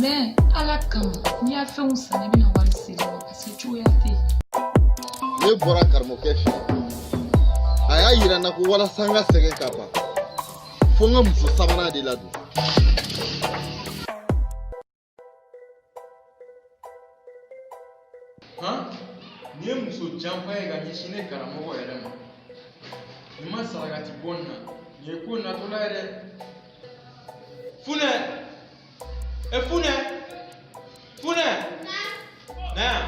mɛ ala kama n'i y'a fɛnw san ne bɛna wari segin i ma parce que cogoya tɛ yen ne bɔra karamɔgɔkɛ fɛ a y'a yira n na ko walasa n ka sɛgɛn ka ban fo n ka muso sabanan de ladon Hɔn nin ye muso janfa ye ka ɲɛsin ne karamɔgɔ yɛrɛ ma n'i ma sarakati bɔ nin na nin ye ko natɔla ye dɛ funɛ e funɛ funɛ na yan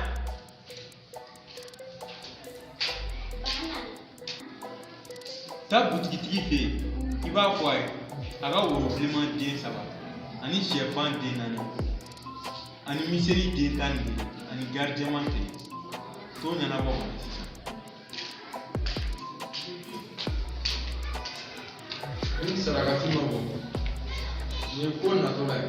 taa butigitigi fɛ yen i b'a fɔ a ye a ka woro bilenman den saba ani sɛfan den naani ani miseli den tan ni kelen ani gari jɛman kelen t'o ɲɛnabɔ ka na sisan. ni sarakati ma bɔ nin ye ko natɔla ye.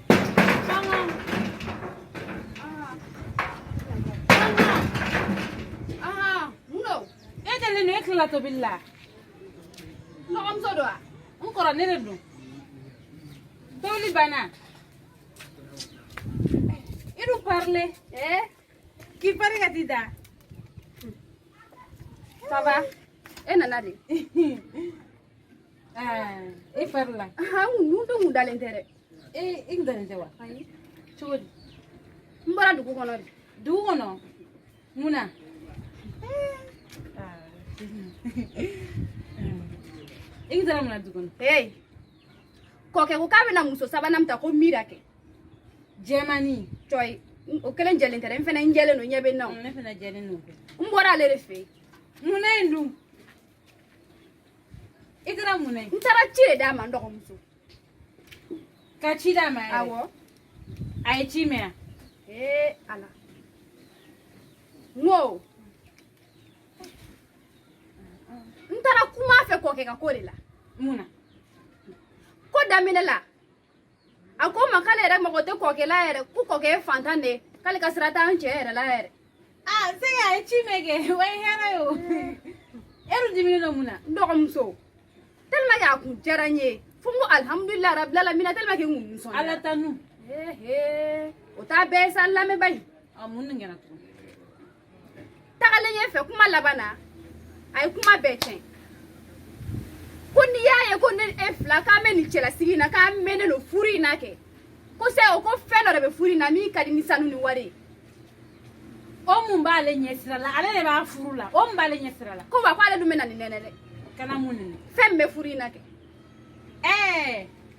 la tobi la n dɔgɔmuso don wa n kɔrɔ ne de don tobili banna i dun parilen eh? k'i pari ka t'i da saba e nana de i fari la mun to n kun dalen tɛ dɛ i kun dalen tɛ wa cogo di n bɔra dugu kɔnɔ de dugu kɔnɔ mun na i kun taara mun na dugu kɔnɔ ee kɔkɛ ko k'a bɛna muso sabanan min ta ko mira kɛ jɛmani cɔyi o kelen jɛlen tɛ dɛ n fana n jɛlen don ɲɛ bɛ n na o ne fana jɛlen don n bɔra ale de fɛ yen mun na yen dun i taara mun na yen n taara ci de d'a ma n dɔgɔmuso ka ci d'a ma yɛrɛ awɔ a ye ci mɛn wa ee ala n ko n taara kuma a fɛ kɔkɛ ka ko de la mun na ko daminɛ la a ko n ma k'ale yɛrɛ mago tɛ kɔkɛ la yɛrɛ ko kɔkɛ ye fantan de ye k'ale ka sira t'an cɛ yɛrɛ la yɛrɛ aa c'est que a ye ci mɛn kɛ o ye hɛrɛ ye o e dun diminen don mun na n dɔgɔmuso tellement que a kun diyara n ye fo n ko alihamudulila rabili alamina tellement que n kun nisɔn ala tanu o t'a bɛɛ ye sa n lamɛn bani a mun nin kɛra tugun tagalen ɲɛfɛ kuma laban na a ye kuma bɛɛ tiɲɛ ko n'i y'a ye ko ne n'e fila k'an bɛ nin cɛlasigi in na k'an mɛnnen don furu in na kɛ ko sɛ o ko fɛn dɔ de bɛ furu in na min ka di ni sanu ni wari ye o mun b'ale ɲɛsira la ale de b'a furu la o mun b'ale ɲɛsira la ko wa ko ale dun bɛ na nin nɛnɛ dɛ ka na mun nɛnɛ fɛn min bɛ furu in na kɛ ɛɛ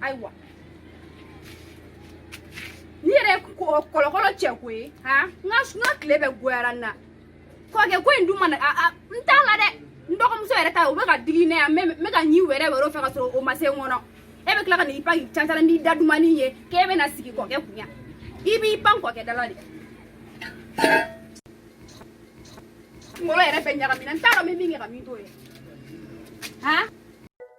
ayiwa nin yɛrɛ ye kɔlɔkɔlɔ cɛ ko ye han n ka n ka tile bɛɛ goyara n na kɔkɛ ko in dun ma na a n t'a la dɛ n dɔgɔmuso yɛrɛ ta o bɛ ka digi ne yan n bɛ ka ɲin wɛrɛwɛrɛ fɛ ka sɔrɔ o ma se n kɔnɔ e bɛ tila ka n'i pan k'i cancala n'i da dumannin ye k'e bɛ na sigi kɔkɛ kun yan i b'i pan kɔkɛ dala de kunkolo yɛrɛ bɛɛ ɲagamina n t'a dɔn n bɛ min kɛ ka min to yen han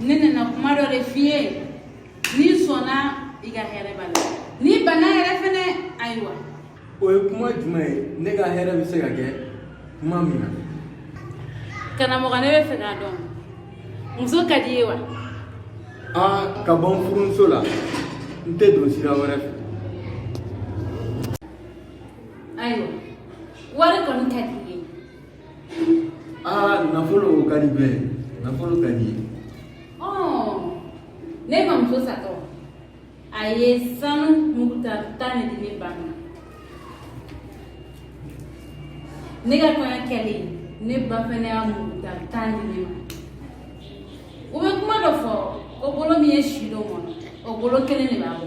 ne nana kuma dɔ de f'i ye n'i sɔnna i ka hɛrɛ b'a la n'i banna yɛrɛ fɛnɛ ayiwa o ye kuma jumɛn ye ne ka hɛrɛ bɛ se ka kɛ kuma min na karamɔgɔ ne b'a fɛ k'a dɔn muso ka d'i ye wa aa ka bɔ n furumuso la n tɛ don sira wɛrɛ fɛ Ah, nafolo ka di bɛ nafolo ka d'i ye ne mamuso satɔ a ye sanu muguta tan de di ne ba ma ne ka kɔɲɔ kɛlen ne ba fɛnɛ y'a muguta tan di ne ma u bɛ kuma dɔ fɔ ko bolo min ye si don mɔni na o bolo kelen de b'a bɔ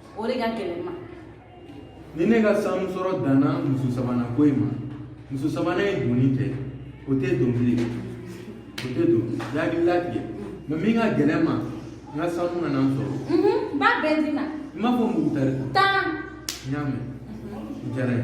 o de ka gɛlɛn n ma ni ne ka sanu sɔrɔ danna muso sabanan ko in ma muso sabanan ye donni kɛ o tɛ don bilen o tɛ don i hakili latigɛ mɛ min ka gɛlɛn n ma n ka sanu ka na n sɔrɔ n b'a bɛɛ d'i ma i m'a fɔ mugutari tan n y'a mɛn n diyara ye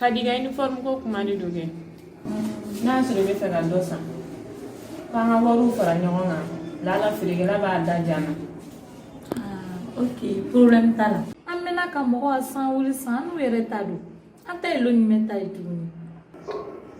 Kadi ka uniform ko kuma de don kɛ n'a sɔrɔ i b'a fɛ ka dɔ san k'an ka wariw fara ɲɔgɔn kan lala feerekɛla b'a da diya an na ok problème t'a la an bɛna ka mɔgɔ ka san wuli san n'u yɛrɛ ta don an ta ye lon ɲumɛn ta ye tuguni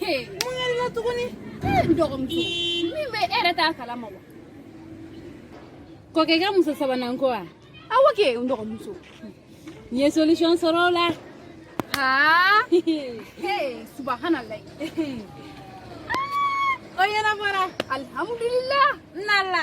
mun yɛrɛ la tuguni n dɔgɔmuso min bɛ e yɛrɛ t'a kalama wa kɔkɛ ka muso sabanan ko wa awɔ kɛ n dɔgɔmuso n ye solution sɔrɔ o la aa subahanallahi o ɲɛnabɔra alihamudulila n nala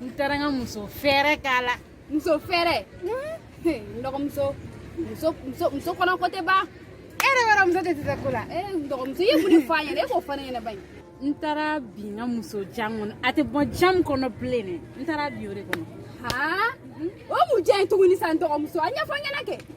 n taara n ka muso fɛɛrɛ k'a la muso fɛɛrɛ n dɔgɔmuso muso muso muso kɔnɔko tɛ ban e yɛrɛ b'a dɔn muso tɛ tɛ ko la e n dɔgɔmuso i ye mun de fɔ a ɲɛna e k'o fɔ ne ɲɛna ba in n taara bin n ka muso jan kɔnɔ a tɛ bɔ jan kɔnɔ bilen dɛ n taara bin o de kɔnɔ haa o mun de ye tuguni sa n dɔgɔmuso a ɲɛfɔ n ɲɛna kɛ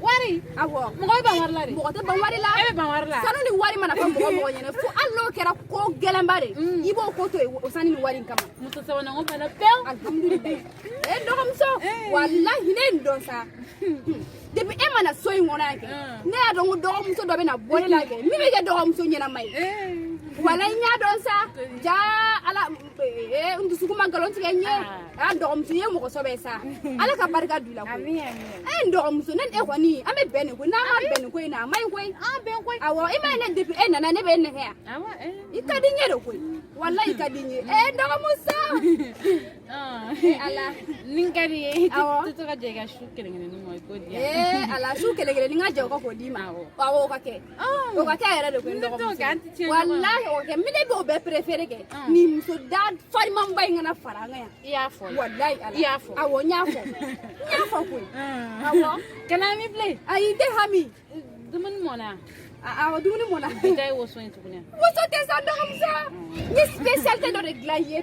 wari awɔ mɔgɔ bɛ ban wari la de mɔgɔ tɛ ban wari la e bɛ ban wari la sanu ni wari mana fɔ mɔgɔ o mɔgɔ ɲɛna fo hali n'o kɛra ko gɛlɛnba de mm. i b'o ko to yen o sanu ni wari in kama muso sabanan ko bana pewu alihamudulilayi e dɔgɔmuso eh. walahi ne ye nin dɔn sa depuis e nana so in kɔnɔ yan kɛ mm. ne y'a dɔn ko dɔgɔmuso dɔ bɛ na bɔ ne la kɛ min bɛ kɛ dɔgɔmuso ɲɛnama ye eh. walayi n y'a dɔn sa jaa ala ee n dusukun ma nkalon tigɛ n ye a dɔgɔmuso ye mɔgɔ sɔbɛ sa ala ka barika don i la koyi e n dɔgɔmuso ne ni e kɔni an bɛ bɛn nin koyi n'an ma bɛn nin koyi na a man ɲi koyi awɔ i ma ye ne depuis e nana ne bɛ n nɛgɛ yan i ka di n ye de koyi walayi i ka di n ye ee n dɔgɔmuso ala ni n ka di ye awɔ tɛ to ka jɛn i ka su kelen kelen nin ma i k'o di yan ee ala su kelen kelen nin n ka jɛn o kɔ k'o d'i ma awɔ o ka kɛ o ka kɛ yɛrɛ de koyi walahi o kɛ mm. ne b'o bɛɛ préférer kɛ nin muso da farimanba in kana fara an kan yan i y'a fɔ walahi ala i y'a fɔ awɔ n y'a fɔ n y'a fɔ koyi awɔ kana hami bilen ayi n tɛ hami dumuni mɔna awɔ dumuni mɔna i ta ye woso ye tuguni woso tɛ sa dɔgɔmuso n ye spécialité dɔ de dilan i ye